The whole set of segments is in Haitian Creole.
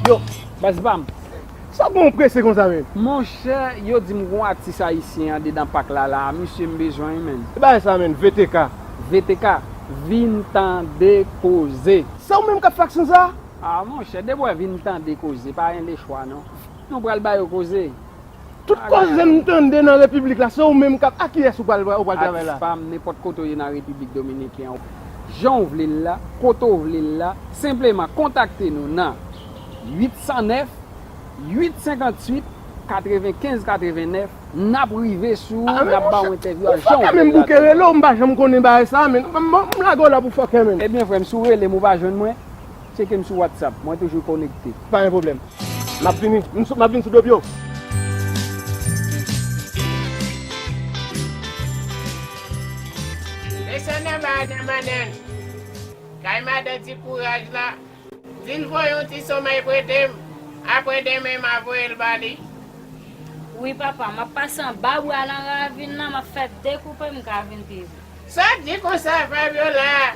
Yo, baz pam. Sa bon ou prese konsa menm? Monchè, yo di m gon atis ayisyen andedan pak la la a mesye m bezwen l menn. Ki bagay sa menn VTK? VTK, vin tande koze. Se ou menm k ap fè aksyon sa a? Ah monchè debwè vin tande koze pa en le chwa non nou pral ba yo koze. Tout koze m tande nan repiblik la se ou menm kap a kiyès ou pral travay la. Atis pam nenpòt kote w ye nan repiblik dominiken w jan w vle l la kote w vle l la senpleman kontakte nou nan 809 858 95 89 nap rive sou ou nap ba w entèvyou a jan w vle l la. Ou fòkè menm bouke rele w m pa janm konnen bagay sa a menn m lage w la pou fòkè menn. Ebyen frè m si w rele m ou pa jwenn mwen. Tcheke m sou WhatsApp, mwen toujou konekte. Pa gen pwoblèm. M ap vini. M ap vini sou do byo. Mesye Nèma a denmannen l. Kay madan ti kouraj la. Di l voye yon ti somèy prete m. Apre denmen m a voye l ba li. Wi papa. M ap pase anba bwa nan ravin nan. M ap fè dekoupe m ka vin pi vit. Sa di konsa Fabiola?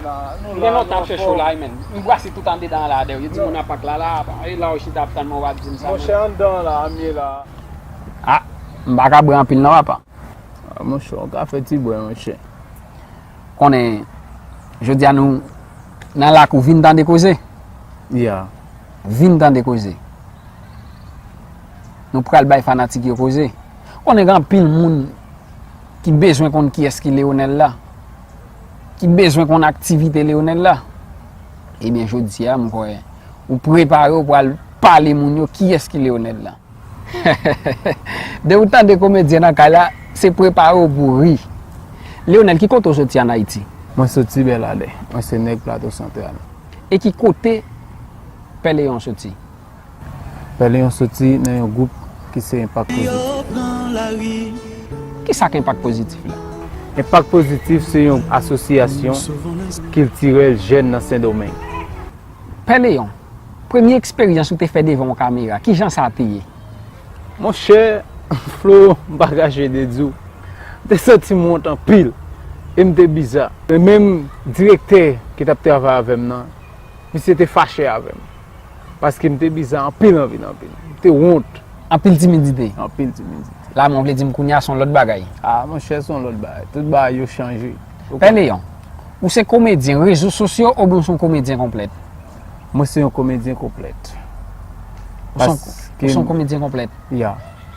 Ou gen lontan ap chèche w la wi menn. M brase tout andedan an la dèw. Yo di moun apak la la. E la ou chita ap tann mwen wap di m sa menm. Monchè anndan an la a m ye la a. Ah m pa ka bwè anpil non papa. Ah monchè ou ka fè ti bwè monchè. Konnen jodi a nou nan lakou vin tande koze. Ya. Vin tande koze. Nou pral bay fanatik yo koze. Konnen gen anpil moun ki bezwen konn kiyès ki Leonel la. Ki bezwen konn aktivite Leonel la. Ebyen jodi a mwen kwè ou prepare ou pral pale moun yo kiyès ki Leonel la. Dè ou tande komedyen nan kay la, se prepare ou pou ri. Leonel ki kote ou soti an Ayiti? Mwen soti Bèladè. Mwen se nèg Plato Santral. E ki kote Pè Leon soti? Pèlen yo soti nan yon gwoup ki se enpak pozitif. Ki sa k enpak pozitif la? Enpak pozitif se yon asosyasyon kiltirèl jèn nan Sendomeng. Pè Leon, premye eksperyans ou te fè devan yon kamera, ki jan sa te ye? Monchè Flo, m pa kache de di w, m te santi m wont anpil e m te biza. Menm direktè ki t ap travay avè m nan, misye te fache avè m. Paske m te biza anpil anpil anpil. M te wont. Anpil timidite. Anpil timidite. La men w vle di m kounye a son lòt bagay. A monchè son lòt bagay. Tout bagay yo chanje. Pè Leon, ou se komedyen rezo sosyo oubyen ou se yon komedyen konplèt? Mwen se yon komedyen konplèt. Ou se yon komedyen konplèt? Ya.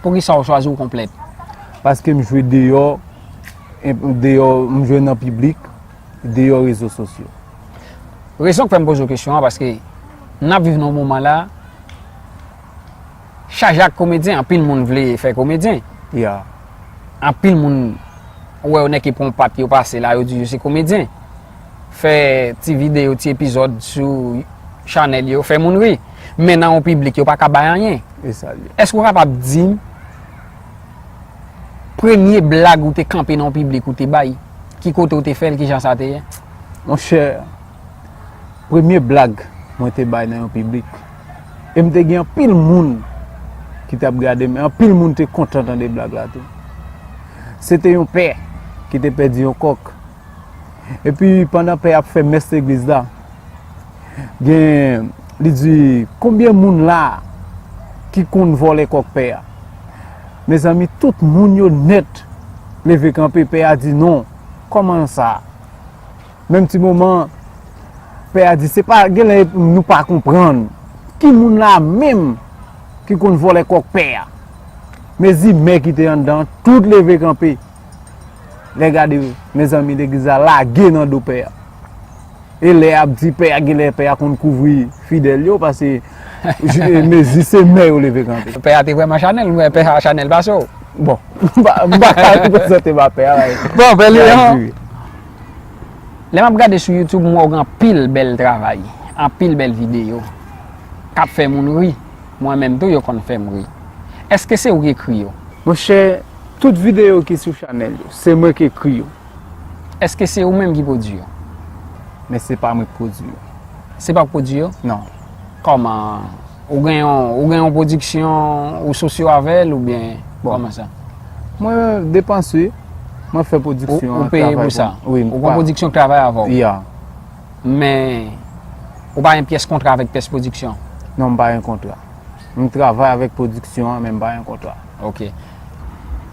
Poukisa ou chwazi ou konplèt? Paske m jwe deyò, deyò m jwe nan piblik. deyò rezo sosyo. Rezon k fè m poze w kesyon an paske n ap viv nan yon moman la chaje ak komedyen. Anpil moun vle fè komedyen. Anpil moun ou wè yo nèke pran yon pat yo pase la yo di yo se komedyen. Fè ti videyo, ti epizòd sou chanèl yo fè moun ri. Men nan yon piblik yo pa ka bay anyen. Èske ou kapab di m. Premye blag ou te kanpe nan piblik ou te bay, ki kote ou te fè l, ki jan sa te ye? Monchè, premye blag mwen te bay nan yon piblik, e m te gen anpil moun ki t ap gade m, e anpil moun te kontan tande blag la tou. Se te yon pè ki te pèdi yon kòk. Epi pandan pè ap fè mès legliz la, gen li di konbyen moun la ki konn vòlè kòk pè a. Mezanmi tout moun yo nèt leve kanpe pè a di non, kòman sa? Menm ti moman pè a di se pa gen lè nou pa konprann ki moun la menm ki konn vòlè kòk pè a. Mezi mè ki te anndan tout leve kanpe. Lè gade mezanmi legliz la lage nan do pè a. E lè ap di pè a genlè pè a konn kouvri fidèl yo pase mezi se mè yo leve kanpe. Pè a te vrèman chanèl mwen pè a chanèl pase w. Bon m pa ka reprezante m a pè a. Bon pè Leon lè m ap gade sou youtube m wè w gen anpil bèl travay anpil bèl videyo k ap fè moun ri mwen menm tou yo konn fè m ri. Eske se ou ki ekri yo? Monchè. Tout videyo ki sou chanèl yo, se mwen k ekri yo. Èske se ou menm ki pwodui yo? Men se pa mwen k pwodui yo. Se pa w k pwodui yo? Non. Kòman? Ou gen yon, ou gen yon pwodiksyon ou sosyo avè l oubyen kòman sa? Mwen depanse, mwen fè pwodiksyon an travay pou mwen. Ou peye pou sa? Wi. Ou gen pwodiksyon k travay avè w? Ya. Men, ou pa gen pyès kontra avèk pyès pwodiksyon? Non, m pa gen kontra. M travay avèk pwodiksyon an men m pa gen kontra. Ok.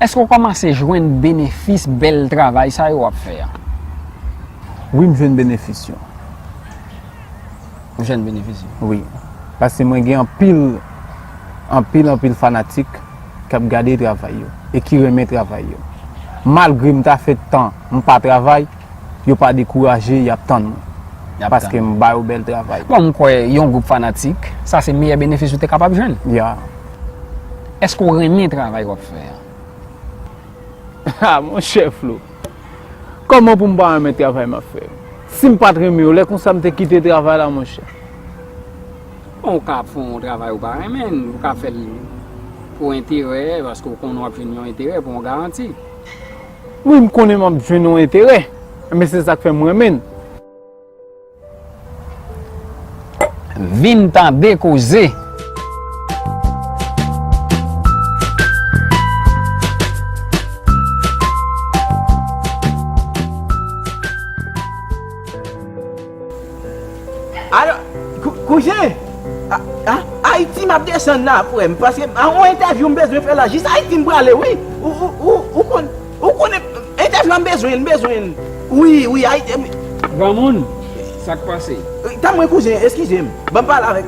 Eske ou komanse jwenn benefis bel travay sa yo wap fe a? Wi m jwenn benefis yo. Ou jwenn benefis yo? Wi. Paske mwen gen anpil, anpil anpil fanatik kap gade travay yo e ki renmen travay yo. Malgre m ta fe tan m pa travay, Yo pa dekouraje yap tann mwen. Paske m ba yo bèl travay. Bon m kwè yon gwoup fanatik sa se meyè benefis ou te kapab jwenn. Yeah. Eske w renmen travay wap fè an? Haa monchè Flo! Kòman pou m pa renmen travay m ap fè yo? Si m pat renmen yo lè konsa m te kite travay la monchè. Bon ou ka ap fè yon travay ou pa renmen, ou ka fè l pou enterè paske ou konnen w ap jwenn yon enterè pou yon garanti. Wi m konnen map jwenn yon enterè men se sak fèm renmen l. Vin tande koze. Alo, kouzen, Ayiti m ap desann la frè m, paske m gen yon entèvyou m bezwen fè la, jis Ayiti m prale wi, ou konn, ou konn entèvyou an m bezwen l, m bezwen l, wi, wi Ayiti m. Granmoun, sa k pase? Tann mwen kouzen, eskize m, ban m pale avèk.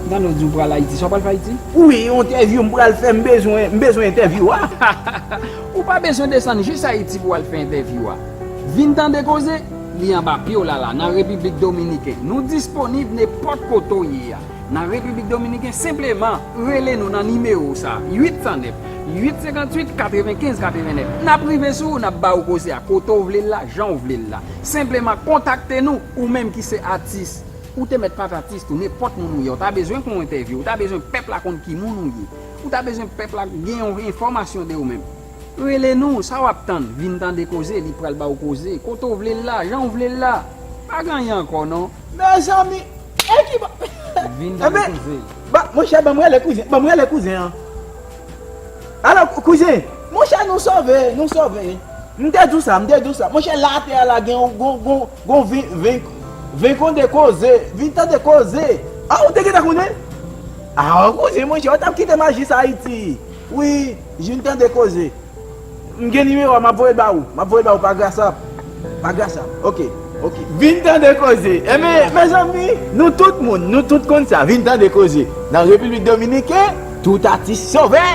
M tande w di w pral Ayiti, sa w pral fè Ayiti? Wi, yon entèvyou m pral fè, m bezwen, m bezwen entèvyou a. Ou pa bezwen desann jis Ayiti pou w al fè entèvyou a, vin tande koze. Li anba pye w la la nan Repiblik Dominiken. Nou disponib nenpòt kote w ye a nan Repiblik Dominiken. Senpleman rele nou nan nimewo sa a, 809 858 95 89. N ap rive sou ou, n ap ba ou koze a kote w vle l la, jan w vle l la. Senpleman kontakte nou, ou menm ki se atis. Ou te mèt pa t atis tou, nenpòt moun ou ye, w ta bezwen fè yon entèvyou, w ta bezwen pèp la konn ki moun ou ye, w ta bezwen pèp la gen yon enfòmasyon de ou menm. Rele nou, sa wap tann, vin tande koze, li pral ba ou koze, kote ou vle l la, jan ou vle l la. Pa gen anyen ankò non. Mezanmi! E ki bo. Vin tande koze. Ba, monchè banm rele kouzen, banm rele kouzen an. Alo, kouzen! Monchè nou sove, nou sove. M te di w sa, m te di w sa. Monchè la atè a la gen yon, gon, gon, gon vin, vin, vin konde koze, vin tande koze. A ou te gentan konnen? A kouzen monchè, ou tap kite maji sa Ayiti. Wi jinn tande koze. M gen nimewo a map voyel ba ou map voyel ba ou pa grasap pa grasap ok ok. Vin tande koze enben mezanmi nou tout moun nou tout konn sa vin tande koze nan repiblik dominiken tout atis sove.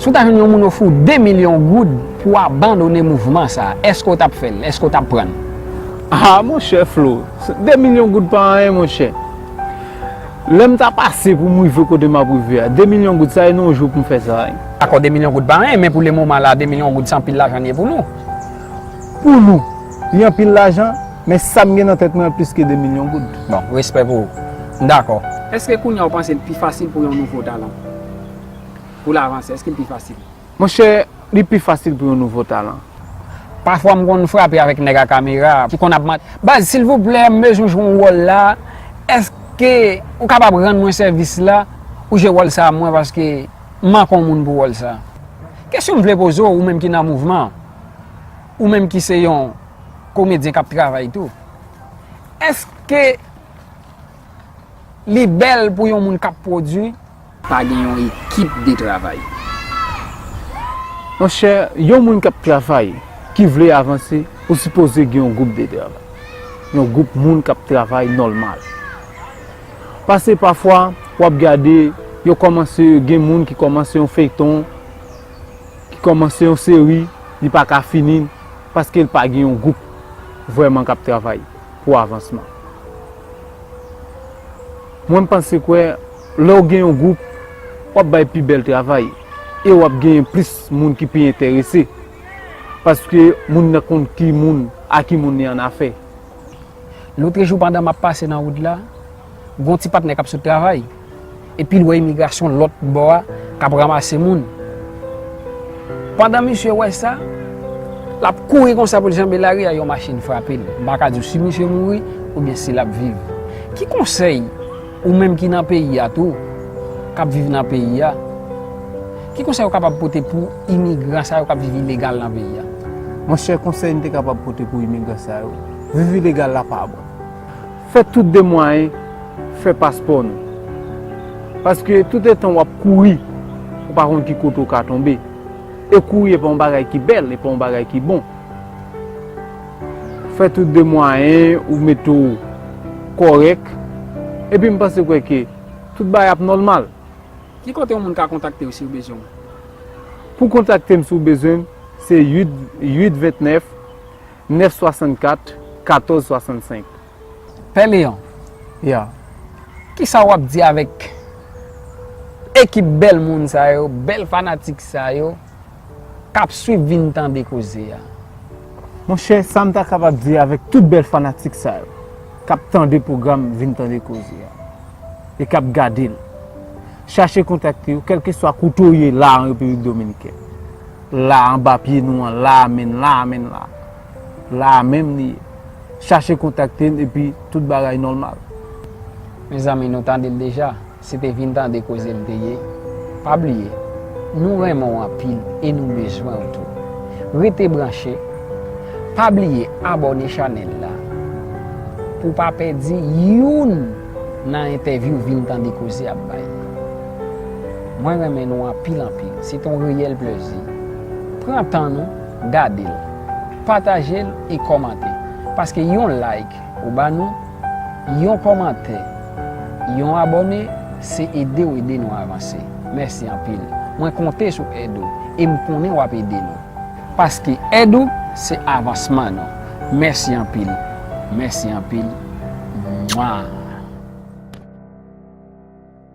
Si w ta jwenn yon moun ofri w 2 milyon goud pou w abandone mouvman sa, èske w t ap fè l? Èske w t ap pran l? A monchè Flo, 2 milyon goud pa anyen monchè. Lè m ta pase pou m rive kote m ap rive a, 2 milyon goud sa e nan yon jou pou m fè sa? Dakò 2 milyon goud pa anyen, men pou lemoman la 2 milyon goud se anpil lajan li ye pou nou. Pou nou, li anpil lajan? Men sa m gen nan tèt mwen plis ke 2 milyon goud. Bon, respè pou ou. M dakò. Eske kounya ou panse l pi fasil pou yon nouvo talan pou l avanse? Eske l pi fasil? Monchè, li pi fasil pou yon nouvo talan. Pafwa m konn frape avèk nèg a kamera ki konn ap man, Baz, silvouplè, m bezwen jwe yon wòl la, eske ou kapab rann mwen sèvis la, ou jwe wòl sa a mwen paske m manke yon moun pou wòl sa a? Kesyon m vle poze w, ou menm ki nan mouvman an. Ou menm ki se yon komedyen kap travay tou, eske li bèl pou yon moun kap pwodwi? Pa gen yon ekip de travay. Monchè, yon moun kap travay, ki vle avanse, ou sipoze gen yon gwoup de travay. Yon gwoup moun kap travay nòlmal. Pase pafwa, wap gade, yo kòmanse, gen moun ki kòmanse yon feyton, ki kòmanse yon seri li pa ka fini l paske l pa gen yon gwoup vrèman k ap travay pou avansman. Mwen m panse kwè lè w gen yon gwoup w ap bay pi bèl travay e w ap genyen plis moun ki pi enterese paske moun nan konn ki moun a ki moun li annafè. Lotre jou pandan map pase nan wout la, gon ti patnè kap sot travay, epil wè imigrasyon lòt bò a kap ramase moun. Pandan misye wè sa, lap kouri konsa poul janbe lari a yon machin frapel. M paka diw si misye mouri oubyen si lap viv. Ki konsèy ou menm ki nan peyi a tou, kap viv nan peyi a, ki konsèy ou kapab pote pou imigran sa yo kap viv ilegal nan peyi a? Monchè konsèy m te kapab pote pou imigran sa yo. Vivi legal la pa bon. Fè tout de mwayen fè paspò nou. Paske tout etan wap kouri, ou pa konn ki kote ou ka tonbe. E kouri e pa yon bagay ki bèl, e pa yon bagay ki bon. Fè tout de mwayen ou mete w kòrèk. Epi m panse kwè ke tout bagay ap nòlmal. Ki kote yon moun ka kontakte w si yo bezwen w? Pou kontakte m si w bezwen m, se 8 8 29. 964 1465 Pè Leon, yo, kisa w ap di avèk ekip bèl moun sa yo, bèl fanatik sa yo k ap swiv vin tande koze a? Monchè, sa m ta kapab di avèk tout bèl fanatik sa yo k ap tande pwogram vin tande koze a e k ap gade l, chache kontakte yo kèlkeswa kote w ye la an Repiblik Dominikèn. La anba pye nou an la a menn la a menn la a la a menm li ye chache kontakte n epi tout bagay nòmal. Mezanmi nou tande l deja se te vin tande koze l te ye pa bliye nou renmen w anpil e nou bezwen w tou rete branche pa bliye abòne chanèl la pou w pa pèdi youn nan entèvyou vin tande koze ap bay. Mwen renmen nou anpil anpil. Se ton reyèl plezi. Pran tan nou, gade l. Pataje l e kòmante. Paske yon like ou ba nou, yon kòmantè, yon abòne, se ede w ede nou avanse. Mèsi anpil. Mwen konte sou èd ou e m konnen w ap ede nou. Paske èd ou se avansman nou. Mèsi anpil. Mèsi anpil. Mwaa.